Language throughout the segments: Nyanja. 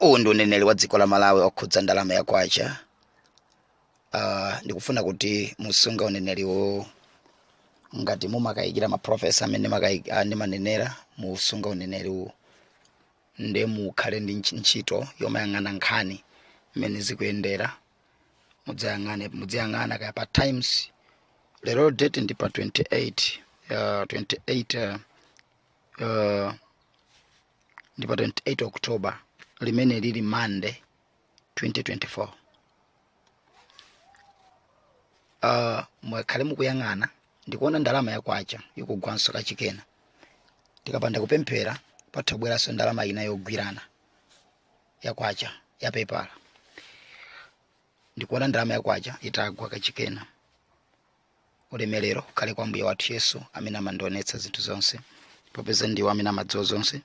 uwu ndi uneneri wa dziko la malawi okhudza ndalama ya kwacha uh, ndikufuna kuti musunge uneneri uwu ngati mumakayikira maprofesa amene makayi- ah, ndimanenera musunga uneneri uwu ndiye mukhale ndi ntch- ntchito yomayang'ana nkhani mmene zikuyendera mudziyang'ana mudziyang'ana kaya pa times lero date ndi pa 28 uh, 28 uh, uh, ndi pa 28 october limene lili monday 2024 uh, muwakhale mukuyang'ana ndikuona ndalama ya kwacha ikugwanso kachikenanso tikapanda kupemphera patha kubweranso ndalama ina yogwirana ya kwacha ya pepala ndikuona ndalama ya kwacha itagwa kachikena ulemerero ukhale kwa ambuye wathu yesu amene amandionetsa zinthu zonse popeza ndiwo amene amadziwa zonse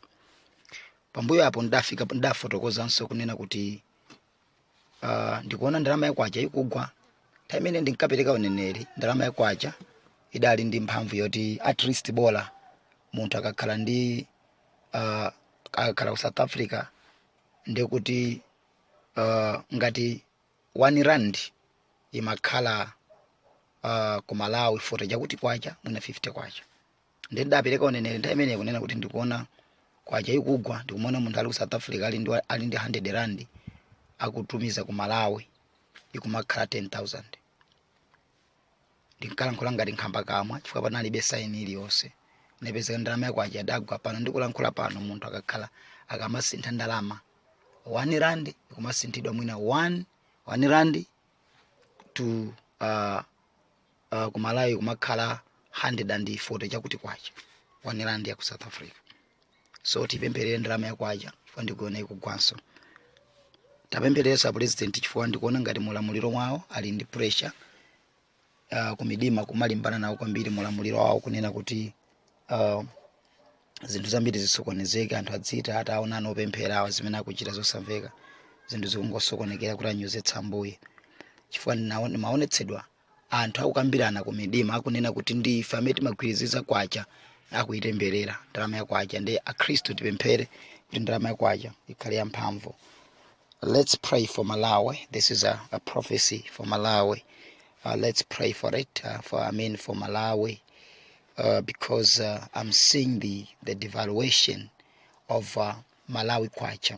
pambuyo apo ndidafika ndidafotokozanso kunena kuti uh, ndikuona ndalama yakwacha ikugwa nthawi imene ndinkapereka uneneri ndalama yakwacha idali ndi mphamvu yoti at least bola munthu akakhala ndi uh, akakhala ku south africa ndikuti uh, ngati 1 rand imakhala uh, ku malawi 40 chakuti kwacha mwina 50 kwacha nde ndidapereka uneneri nthawi imeneyo kunena kuti ndikuona kwacha ikugwa ndikumaona munthu ali ku south africa ali ndi, ali ndi 100 rand akutumiza ku malawi ikumakhala 10000 ndinkalankhula ngati nkhambakamwa chifukwa panalibe saini iliyonse nde pezeka ndalama ya kwacha idagwa pano ndikulankhula pano munthu akakhala akamasintha ndalama 1 rand ikumasinthidwa mwina 1 1 rand to uh, uh, kumalawi kumakhala 140 chakuti kwacha 1 rand ya ku south africa so tipempherere ndalama ya kwacha chifukwa ndikuona ikugwanso tiapempherereso a president chifukwa ndikuona ngati mulamuliro wawo ali ndi pressure uh, kumidima kumalimbana nawo kwambiri mulamuliro wawo kunena kuti uh, zinthu zambiri zisokonezeke anthu adziti taonani ana opemphera awa zimene akuchita zosamveka zinthu zikungosokonekera kuti anyozetse ambuye chifukwa ndinawo- ndimaonetsedwa anthu akukambirana ku midima akunena kuti ndi ife amene timagwiriziza kwacha akuitemberera ndalama ya kwacha nde akhristu tipemphere kuti ndalama ya kwacha ikhale yamphamvu let's pray for malawi this is a, a prophecy for malawi uh, let's pray for it uh, for i mean for malawi uh, because uh, i'm seeing the, the devaluation of uh, malawi kwacha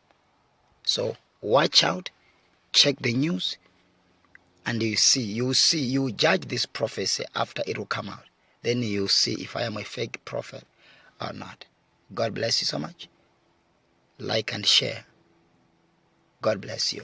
so watch out check the news and you see you see you judge this prophecy after it will come out then you see if i am a fake prophet or not god bless you so much like and share god bless you